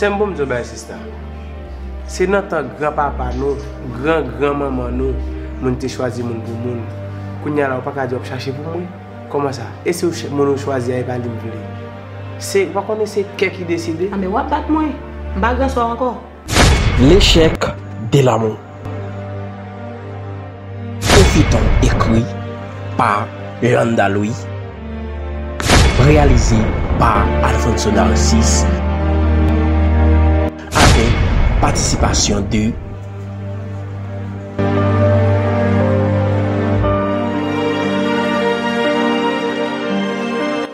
Sèm bon mdi w bagay sista, se nan tan gran papa nou, gran gran manman nou, moun te chwazi moun pou moun, kounya la ou paka di wap chache pou moun, kòman sa? E si moun ou chwazi a e pa li m vle? Se, ou pa konnen se kè ki deside? Anben wap bat mwen, m pa gran swa ankò. L'échec de l'amour Yon feyton ekri pa Landa Louis Reyalize pa Alfonso Narcisse Avèk patisipasyon de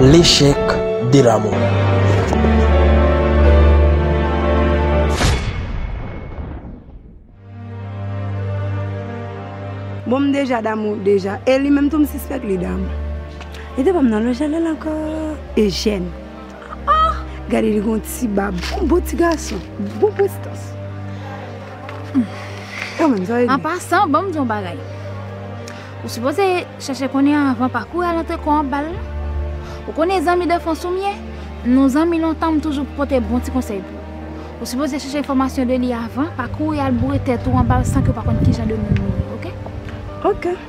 L'échec de l'amour. Bon m deja damou deja e li menm tou m sispèk li damou. Li te banm nan lojè lèl ankò e jèn. Ahh gade li gon ti bab on bon ti gason bon prestans kanmenm sa e di. An pasan banm di yon bagay ou sipoze chèche konnen anvan pa kouri al antre kò anbal non ou konnen zanmi danfans ou m ye nou zanmi lontan m toujou pote bon ti konsèy pou ou ou sipoze chèche enfòmasyon de li avan pa kouri al boure tèt ou anbal san ke w pa konn kijan de moun li ye ok. Ok.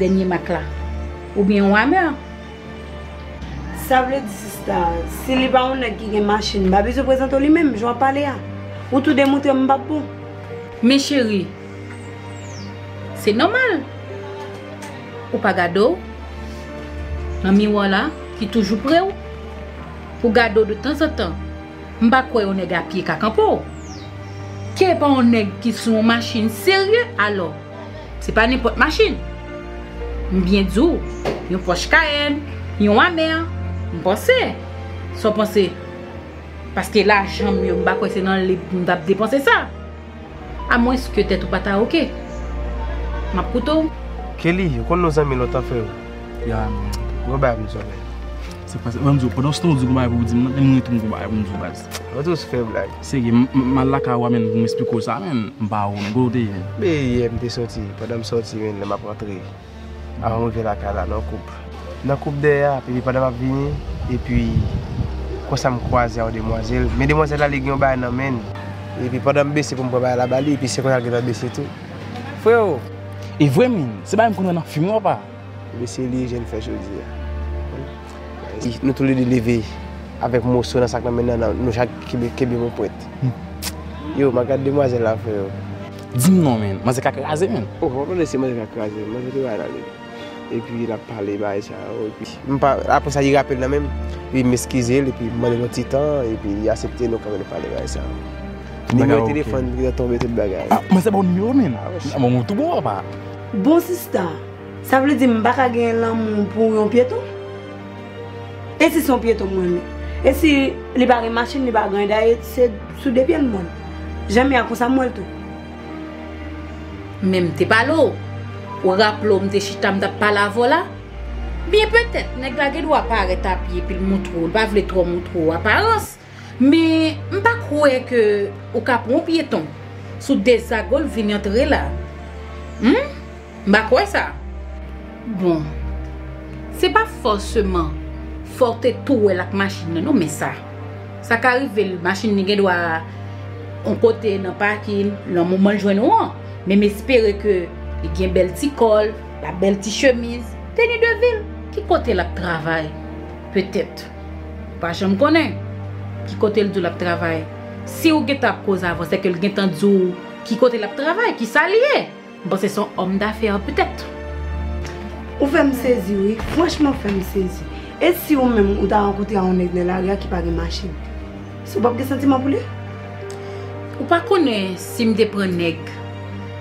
Dènye mak la. Ou byen yon ameur. Sa vle di sista, si li pa yon nèg ki gen machin, m pa bezwen prezante w li menm, jan w ap pale a. Ou tou de moutre m m pa bon. Men cheri, se nòmal. Ou pa gade w nan miwa la ki toujou pre w. Ou gade w de tanzantan. M pa kwè yon nèg a pye ka kanpe w. Ke pa yon nèg ki sou yon machin serye alò. Se pa nenpòt machin. M byen di w, yon Porsche Cayenne, yon Hammer, m panse. Sa w panse? Paske lajan m yo, m pa kwè se nan li m t ap depanse sa. A mwens ke tèt ou pa ta oke. M ap koute w. Kelly, ou konn nou zanmi lontan freo. Ya, gen yon bagay pou m di w frè. Sa k pase? Ban m di w, pandan w se tan w di w gen bagay pou w di m nan, menm mwen tou m gen bagay pou m di w baz. Mwen toujou fè blag. Serye m m al lakay ou a menn pou m esplike w sa menn m pa wont kote w te ye. Me yè m te soti pandan m soti menn lè m ap rantre avan m rive lakay la nan koub nan koub dèyè a epi pandan m ap vini epi konsa m kwaze a yon demwazèl men demwazèl la li gen yon bagay nan menn epi pandan m bese pou m pran bagay la ba li epi se konsa l gentan bese tou freo. E vre min, se bagay m konn wè nan fim non pa? Mesye li e je l fè jodi a. Nou tou le 2 leve avèk moso nan sak nan men nan nou chak kenbe yon pwent. Yo ma gad demwazèl la freo. Dim non menn, manzè ka kraze menn. Oh wap tande se manzè ka kraze menn, manzè te bay nan li. Epi lap pale bagay sa yo epi. M pa, apre sa li rapel nan menm, epi m eskize l epi m mande l yon ti tan epi li asepte nou kanpe nou pale bagay sa yo. Nimewo telefòn li an tonbe tout bagay. Manzè baw nimewo menn. Manzè tou bon papa. Bon sista! Sa vle di m pa ka gen lanmou pou yon pyeton? E si se yon pyeton m renmen? E si li pa gen machin, li pa gen anyen? Dayè se sou de pye l m wè l. Jan m ye a konsa m wè l tou. Men m te pale w. Ou raple w m te chita m t ap pale avè w la? Byen petèt nèg la gen dwa parèt apye epi l montre w, l pa vle twò montre w aparans. Men m pa kwè ke ou ka pran yon pyeton sou Desagol vin antre la. Humm m pa kwè sa. Bon Se pa fòseman fòw te tou wèl ak machin nan non men sa Sa ka rivel machin li gendwa yon kote nan pakin nan moman l jwenn ou an Men m espere ke li gen bèl ti kòl, la bèl ti chemiz, teni de vil Ki kote lap travay petèt. Ou pa janm konnen ki kote l di w l ap travay. Si w gentan ap koze avan, sèke l gentan di w ki kote l ap travay, ki sa l ye. M panse se yon òm dafè petèt. Ou fè m sezi wi. Franchman, ou fè m sezi. E si ou menm ou ta rankontre yon nèg nan lari a ki pa gen machin? Ou pap gen santiman pou li? Ou pa konnen si m te pran nèg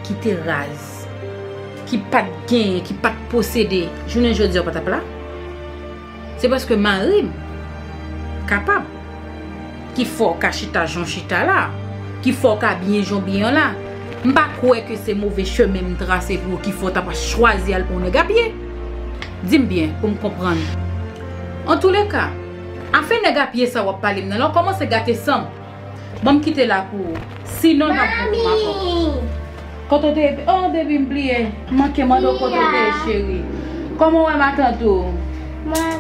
ki te raz, ki pa t genyen, ki pa t posede, jounen jodi a ou pa t ap la? Se paske marim kapab ki fè w ka chita jan w chita la, ki fè w ka abiye jan w abiye an la. M pa kwè ke se move chemen m trase pou ou ki fè w ta pa chwazi al pran yon nèg apye. Di m byen pou m konprann. Antoulèka, afè nèg apye sa w ap pale m nan la, w kòmanse gate san m. Banm kite la pou ou. Si non map vin pou mafom. Kote w te ye oh baby m bliye m manke mande w kote w te ye cheri Koman w wè matant ou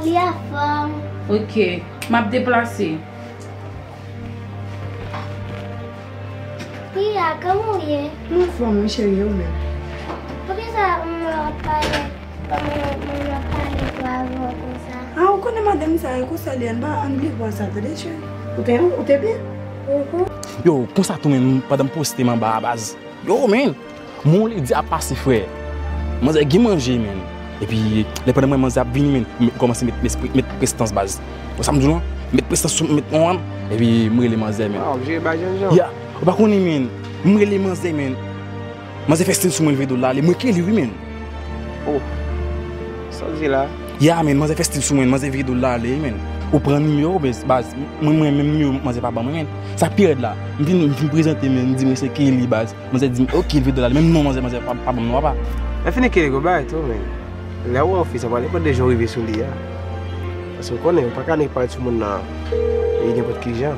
Li anfom Ok map deplase Pia koman w ye M anfom wi cheri e ou menm Poukisa ou pa Ah ou konnen madanm sa yo konsa li anba an bliv vwa sa tande cheri ou te byen. Yow konsa tou menm pandan m poste m anba a baz. Yow menn Mon lady ap pase frè Manzè gen manje menn Epi lè pandan m wè manzè ap vini menn m kòmanse met prestans baz Ou wè sa m di w lan Met prestans sou m Epi m rele manzè menn Ou pa konnen menn M rele manzè menn. Manze fè stil sou mwen leve dol la ale mwen kle li wi menn. Oh Saw di la. Ya menn manzè fè stil sou mwen manzè vire dol la ale wi menn. Ou pran nimewo baz mwen mwen menm nimewo manzè pa banm menn sak pi rèd la m vin m vin prezante menn m di mwen se Kelly baz manzè dim ok leve dol ale menm non manzè manzè pa banm non apa. Lè fini Kelly gon bagay tou menn lèw wè yon fi sa pa nenpòt de jan ou rive sou li a paske ou konnen ou paka ne pawòl sou moun nan e nenpòt kijan.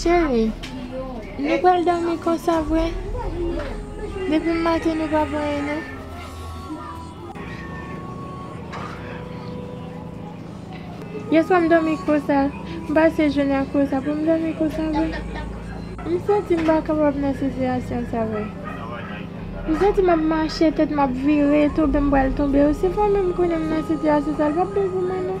Cheri, nou pral dòmi konsa vre? Depi maten nou pa voye nou. Yeswa m dòmi konsa, m pase jounen an konsa pou m dòmi konsa vre? M santi m pa kapab nan sitiyasyon sa vre. M santi m ap mache, tèt m ap vire, tonbe m pral tonbe. Osi fò menm konnen m nan sitiyasyon sa, l p ap bon pou mwen non.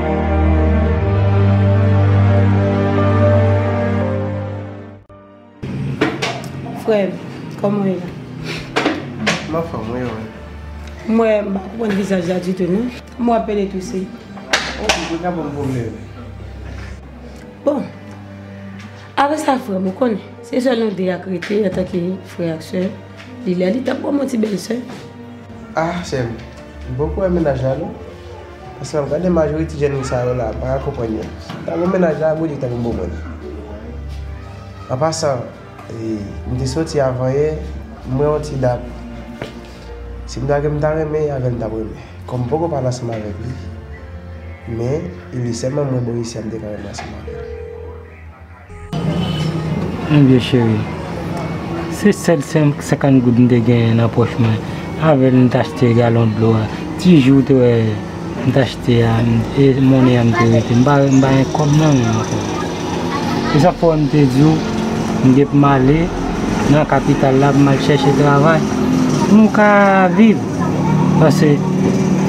Frèm, kòman ou ye la? M anfòm wi ou menm? M wè m pa konprann vizaj la ditou non. M wè w ap plen e touse. Ok, kounye a bon m pwomennen vre. Bon, apre sa frèm ou konnen, se sèl nou de y ak rete antanke frè ak sè. Li lè li tan pou w gen yon ti bèl sè. Ah sè m, m poko wè mennaj la non. Paske map gade majori ti jèn sa yo la mpaka konprann yo. Sim ta gon mennaj la Bondye ki ta vin bon mwen. An pasan mte soti avan yè mwen yon ti dat sim ta gen mta renmen avèl mtap renmen kòm mpoko pale ansanm avèk li men li sèlman mwen bon isi a mte ka renmen ansanm avèl. Mon Dieu cheri, se sèl 50 goud m te genyen nan pòch mwen, avè l m t achte galon dlo a, ti ji w te wè m t achte a, e monnen an m te rete, m pa gen kòb nan men m ankò. Se sa k fè w wè m te di w m gen pou m ale nan kapital la pou m al chèche travay pou m ka viv. Pase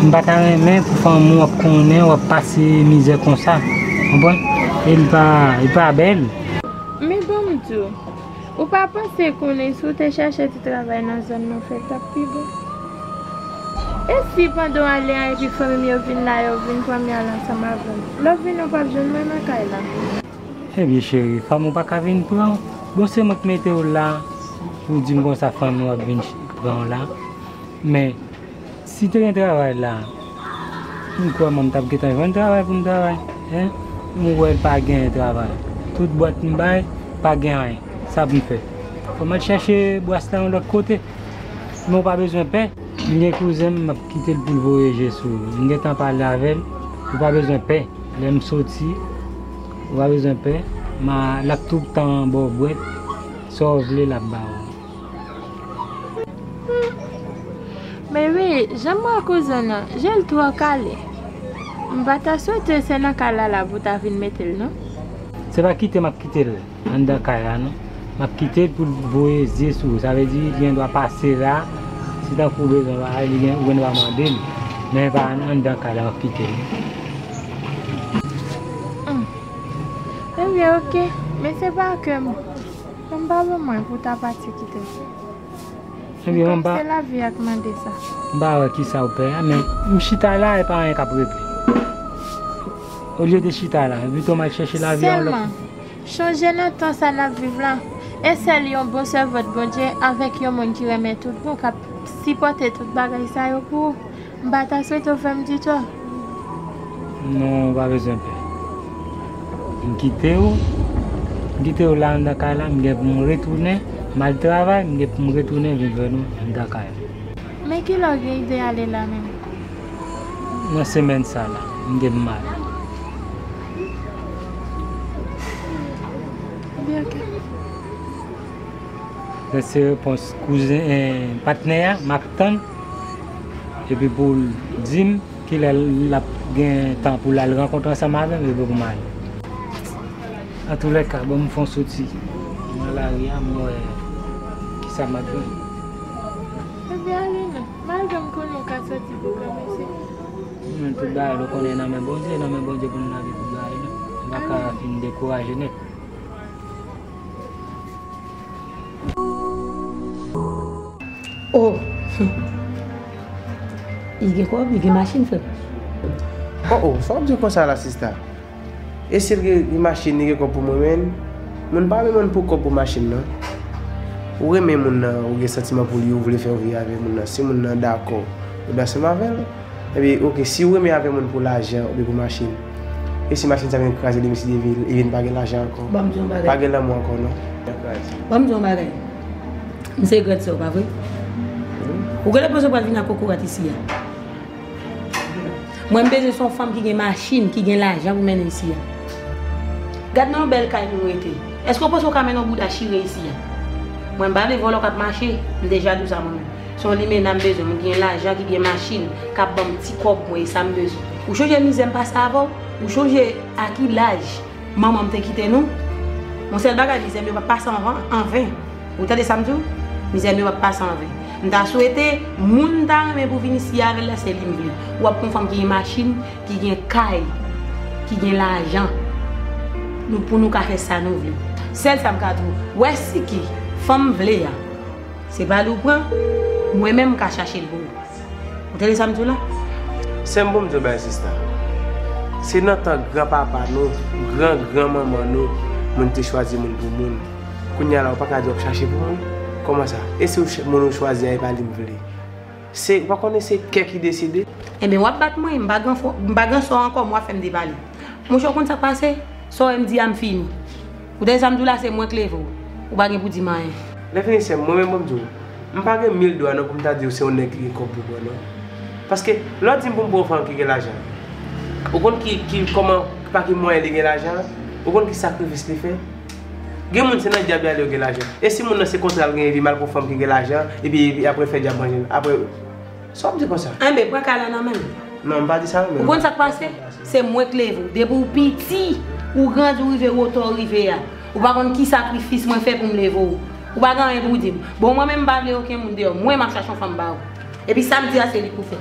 m pa ta renmen pou fanmi w ap konnen w ap pase mizè konsa. Konprann? E li pa, li pa bèl. Men ban m di w, ou pa panse konnen si w te chèche ti travay nan zòn nou fè t ap pi bon? E si pandan w ale a epi fanmi m yo vin la yo vin pran m y al ansanm avè m? Lè w vini w p ap jwenn mwen nan kay la. Ebyen cheri fanm ou paka vin pranw bon se mwen k metew la ou dim konsa fanm ou ap vin pranw la men si te gen travay la m kwè mwen m tap gentan jwenn travay poum travay hein m wè pa gen travay tout bwat m bay pa gen anyen sa poum fè fòm al chache bwas la yon lòt kote men ou pa bezwen pè m gen kouzenm map kitel poul voye je sou ou m gentan pale avèl ou pa bezwen pè. Lè m soti, ou pa bezwen pè, ma l ap tout tan ba w bwè, sa w vle l ap ba w. Men wi, jan m wè kouzen w lan, je l twò kale. M pa ta swete se nan kay Lala pou w ta vin mete l non. Se pa kite m ap kite l. Anndan kay la non. Map kitel poul voye zye sou ou sa vle di li gen dwa pase la si tankou ou bezwen bagay li gen ou gen dwa mandel men pa anndan kay la map kitel non. Humm ebyen ok men se pa kem fanm pa bon mwen pou ta pati kitem men tank se lavi ak mande sa. M pa wè kisaw pè a men m chita la e pa anyen kap regle olye de chita la pito m al chèche lavi yon lòt kote. Chonje nan tan sa nap viv la, e sèl yon bon sèvant Bondye avèk yon moun ki renmen tout bon kap sipòte tout bagay sa yo pou ou. M pa ta swete w fè m di tò. Non, ou pa bezwen pè. M kite ou, m kite ou la anndan kay la, m gen pou m retounen, m al travay, m gen pou m retounen vin jwenn ou anndan kay la. Men ki lè ou gen ide ale la menm? Nan semèn sa la, m gen pou m ale. Sa se repons kouzen e patnè a map tann epi pou l di m kilè l ap gen tan pou l al rankontre ansanm avè m epi pou m ale. Antoulèka ban m fè yon soti nan lari a m wè kisa m ap jwenn. Ebyen ale non. M al jwenn m konnen w ka soti pou w wè mesye. Nan tout bagay nou konnen nan men Bondye, nan men Bondye pou nou lage tout bagay nou, nou pa ka fin dekouraje nèt. O! Li gen kòb, li gen machin frè m. O! O! Sa w ap di konsa la sista? E sil gen yon machin li gen kob pou mwen menn Moun pa renmen moun pou kob pou machin nan Ou renmen moun nan ou gen santiman pou li ou vle fè yon vi avè moun nan si moun nan dakò ou dwe ansanm avèl Ebyen ok si ou renmen avè moun pou lajan oubyen pou machin E si machin sa vin kraze demen si demen li vin pa gen lajan ankò Banm di yon bagay Pa gen lanmou ankò non Banm di yon bagay M se grande sè ou pa vre Ou genlè panse ou pral vin ak kokorat isi a. Mwen m bezwen son fanm ki gen machin, ki gen lajan pou mennen isi a. Gad nan yon bèl kay pou rete. Eske w panse w ka mennen yon bouda chire isi a? Mwen m pa vle vòlò kap mache, m deja di w sa mwen menm. Se yon limena m bezwen, moun ki gen lajan, ki gen machin, kap banm ti kòb mwen, e sa m bezwen. Ou chonje mizè m pase avè w? Ou chonje a ki laj manman m te kite nou? Yon sèl bagay mizè m yo pap pase anven. Ou tande sam diw? Mizè mewap pa san vle. M ta swete moun m ta renmen pou vin isi avèl la se li m vle. Ou ap kon fanm ki gen machin, ki gen kay, ki gen lajan. Nou pou nou ka fè sa nou vle. Sèl sam ka diw, wè si ki fanm m vle a, se pa li w pran, mwen menm m ka chachel pou ou. Ou tande sam diw la? Sèm bon m diw bagay sista. Se nan tan gran papa nou, gran gran manman nou moun te chwazi moun pou moun. Kounya la ou paka di wap chache pou moun? Kòman sa? E si ou moun ou chwazi a e pa li m vle? Se, ou pa konnen se kè ki deside? Enben wap bat mwen, m pa gran fò, m pa gran sò ankò men wap fè m depale. Monchè ou konn sa k pase? Sa w wè m di a m fini. Ou tande sa m di w la se mwen k leve w. Ou pa gen pou di m anyen. Lè fini sè m, mwen menm banm di w, m pa gen mil dwa non pou m ta di w se yon nèg ki gen kòb pou bò non. Paske lè w di m pou m pran yon fanm ki gen lajan, ou konn ki, ki, kòman, pa ki mwayen li gen lajan an? Ou konn ki sakrifis li fè? Gen moun se nan dyab yale yo gen lajan. E si moun nan se kontral genyen li mal pou fanm ki gen lajan epi aprel fè dyab manjel aprè Sa wap di konsa. Enben pran kay la nan menl. Non m pa di sa non men. Ou konn sak pase? Se mwen k leve w. Depi w piti ou grandi ou rive wotè w rive a. Ou pa konn ki sakrifis mwen fè pou m leve w. Ou pa gen anyen pou w di m. Bon mwen menm m pa vle oken moun deyò. Mwen map chache yon fanm ba ou. Epi sam di a se li pou fè.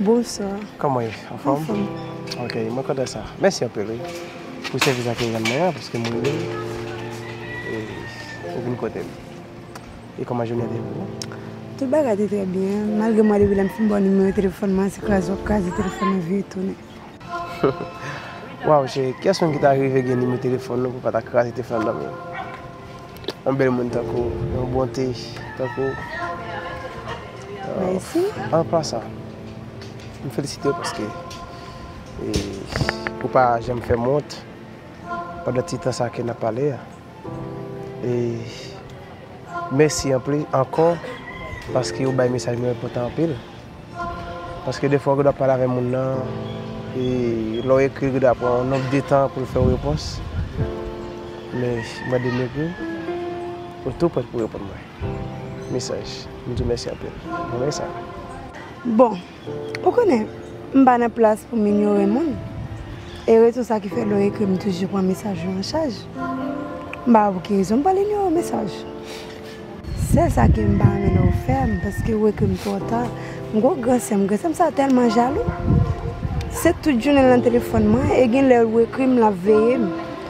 Bonswa. Kòman ye? Anfòm? Anfòm. Ok, mwen kontan sa. Mèsi anpil wi pou sèvis akeyan mwen an paske m rive e ou vin kote m. E kòman jounen te ye pou ou? Tout bagay te trè byen, malgre mwen rive la m fin bò nimewo telefòn mwen, se kraze w ap kraze telefòn nan vire tounen. Waw cheri kyes moun ki ta rive gen nimero telefon nou pou pa ta kraze te flanm nanm yo yon bel moun tankou w yon bonte tankou w Mèsi An pasan m felisite w paske ou pa janm fè m wont pandan ti tan sa ke nap pale a. E mèsi anpli ankò paske ou bay mesaj nou enpòtan anpil. Paske defwa ou gedwa pale avè moun nan e lè w ekri l gedwa pran yon nonb de tan pou l fè w repons. Men mwen de m ekri w, ou tou prèt pou reponn mwen. Mesaj. M di w mèsi anpil. Bon mèsa. Bon. Ou konnen, m pa nan plas pou m inyore moun. E rezon sa ki fè lè w ekri m m toujou pran mesaj ou an chaj. M pa wè pou ki rezon m pral inyore w mesaj. Sèl sa ke m pa renmen lè w fè m paske ou ekri m twò ta. M gen yon gran sè m, gran sè m sa tèlman jalou. Se tout jounen l nan telefòn mwen e gen lè ou ekri m l ap veye m.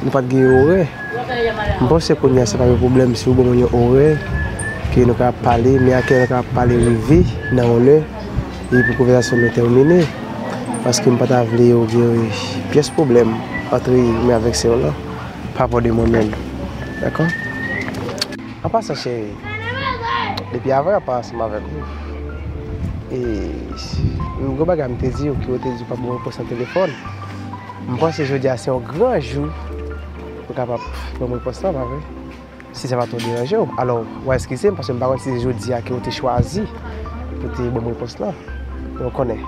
Nou pat gen yon orè. M panse kounya se pa yon pwoblèm si ou ban mwen yon orè ke nou ka pale, men a ki lè nou ka pale rive nan yon lè e pou konvèzasyon nou tèmine. Paske m pa ta vle yo gen yon pyès pwoblèm antre mwen avèk sè w lan parapò de mwen menm. Dakò? An pasan cheri, depi avan yo pa ansanm avèk ou, e m gen yon bagay m te di yo ke ou te di ou pa ban mwen repons nan telefòn. M panse jodi a se yon gran jou pou kapab banm repons lan, pa vre? Si sa pa twò deranje w, alò w a eskize m paske m pa konn si se jodi a ke ou te chwazi pou te banm repons lan. Men ou konnen,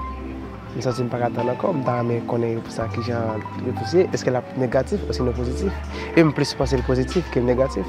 m santi m pa ka tann ankò, m ta renmen konnen repons la ki jan repons ye, eske l ap negatif osino pozitif? E m plis panse l pozitif ke l negatif.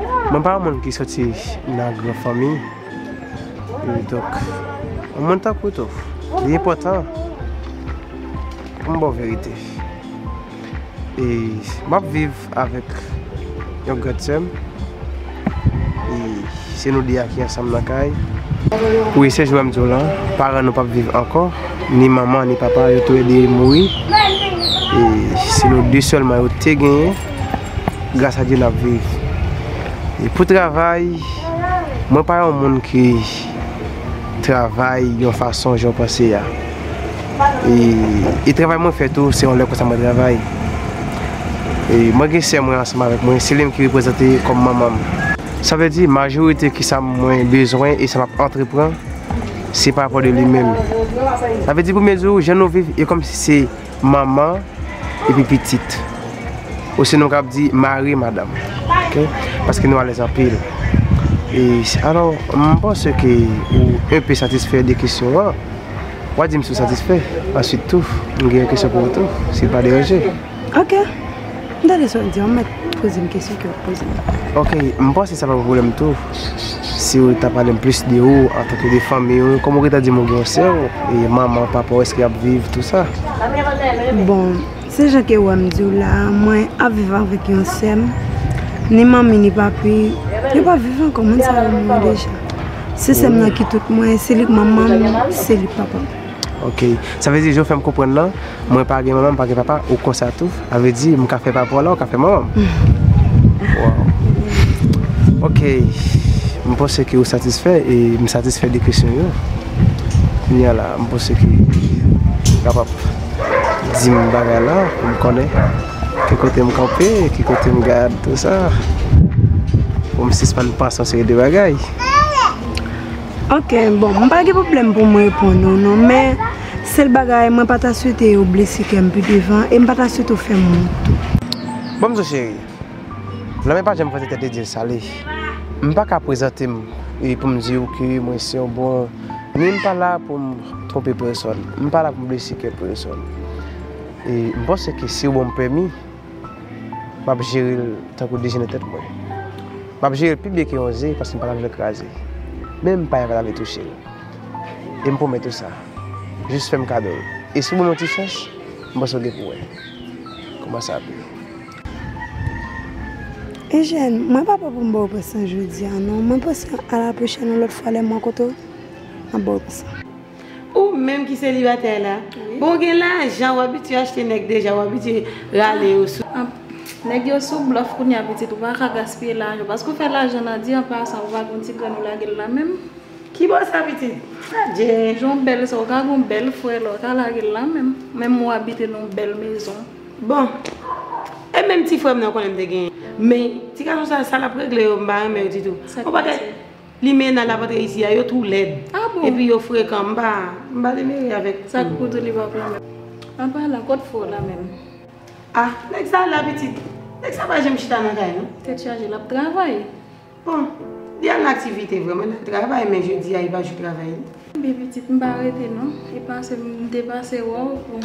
Mwen pa yon moun ki soti nan gran fanmi, e donk, yon moun tankou w tou, li enpòtan pou m ba w verite. E m ap viv avèk yon grande sè m, e se nou 2 a ki ansanm nan kay. Wi, se jounen m di w lan, paran nou p ap viv ankò, ni manman ni papa, yo tou le 2 mouri, e se nou 2 sèlman yo te genyen. gras a Dye nap viv. E pou travay, mwen pa yon moun ki travay yon fason jan w panse a. E travay mwen fè tou, se yon lè konsa mwen travay. E mwen gen sè mwen ansanm avèk mwen, se li menm ki reprezante kòm manman m. Sa vle di majorite ki sa mwen bezwen e sa map antrepran, se pa rapò de li menm. Sa vle di premye jou, jan nou viv e kòm si se. manman epi pitit. Osinon kap di mari madanm. Ok. Paske nou alèz anpil. E alò, mwen panse ke ou enpe satisfè de kesyon an. Wa di m si w satisfè. Ansuit tou, m gen yon kesyon pou ou tou. Si l pa deranje. Ok. M tande sa w di an, m mèt poze m kesyon ke w poze m. Ok, m panse sa pa yon pwoblèm tou, si w ta pale m plis de ou antanke de fanmi w, kòm ou gentan di m ou gen yon sè w, e manman, papa w eske y ap viv tou sa? Bon, se jan ke w wè m di w la a, mwen ap viv avèk yon sè m, ni manmi ni papi, yo pa viv ankò, moun sa yo mouri deja. Se sè m nan ki tout mwen, se li k manman m, se li k papa m. Ok sa vle di jan w fè m konprann lan mwen pa gen manman m pa gen papa ou konsa tou a vle di m ka fè papa w la ou ka fè manman m waw ok m panse ke ou satisfè e m satisfè de kesyon yo kounye a la m panse ke ou kapab di m bagay la pou m konnen ki kote m kanpe ki kote m gad pou m sispann panse yon seri de bagay. Ok bon m pa gen pwoblèm pou m reponn ou non men sèl bagay mwen pa ta swete ou blese kè m pi devan e m pa ta swete ou fè m wont tou. Bon m di w cheri, lanmè pa janm fòse tèt li di l sale. M pa ka prezante m e pou m di ou ke mwen se yon bon ni m pa la pou m twonpe pèsòn, m pa la pou m blese kè pèsòn e m panse ke si ou ban m pèmi. M ap jere l tankou dejè nan tèt mwen. M ap jere l pi byen ke yon ze paske m pa ta vle l kraze. Menm pay la pa ta vle touche l. E m pwomèt ou sa. Jis fè m kado l. E si w ban m yon ti chans, m panse w gen pou wè. Kouman sa ap ye. Ejèn, mwen pa pè pou m ba w pè sa jodi a non. Mwen panse a la pwochèn yon lòt fwa lè m rankontre w, m ap ba w pè sa. Ou menm ki selibatè la. Bon w gen lajan ou abitye achte nèg deja ou abitye rale yo sou. Nèg yo sou blòf kounya pitit ou paka gaspiye lajan paske ou fè lajan nan di anpasan ou pa gen yon ti grenn ou lagel la menm. Ki bò sa pitit? Adjee. Jan w bèl sa ou ka gen yon bèl frè la ou ka lagel la menm. Menm ou abite nan yon bèl mezon. Bon E menm ti frèm nan ou konnen m te genyen. Men ti gason sa sa lap regle yo m pa renmen yo ditou. Sak pase? Limena la pat reyisi a yo two lèd epi yo frekan m pa m pa vle meri avèk yo. Sak pou tou li pap renmen m. Apa la kot fo la menm. Ah nèg sa ala pitit. Nèg sa pa janm chita nan kay non. Tèt chaje lap travay. Bon li al nan aktivite vre mwen nan travay men jodi a epa jou travay li. Kenbe pitit m pa rete non. Epa se m te pase wè w pou.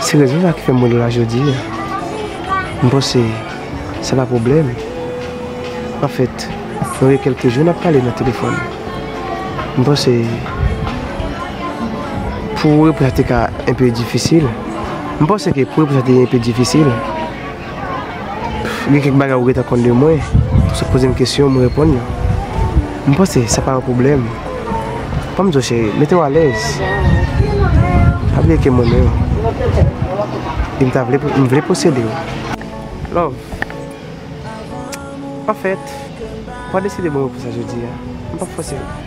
Se rezon sa ki fè m wè nou la jodi a. M panse sa pa pwoblèm. Anfèt, nou gen kèlke jou n ap pale nan telefòn. M panse pou ou reponn sa te ka enpe difisil. M panse ke pou reponn sa te enpe difisil. Gen kèk bagay ou gentan konn de mwen, ou sot poze m kesyon m reponn yo. M panse sa pa yon pwoblèm. Ban m di w cheri, mete w alèz. Pa bliye ke m renmen w. E m ta vle, m vle posede w. Love. Anfèt, w pa deside ban m repons sa jodi a. M pap fòse w.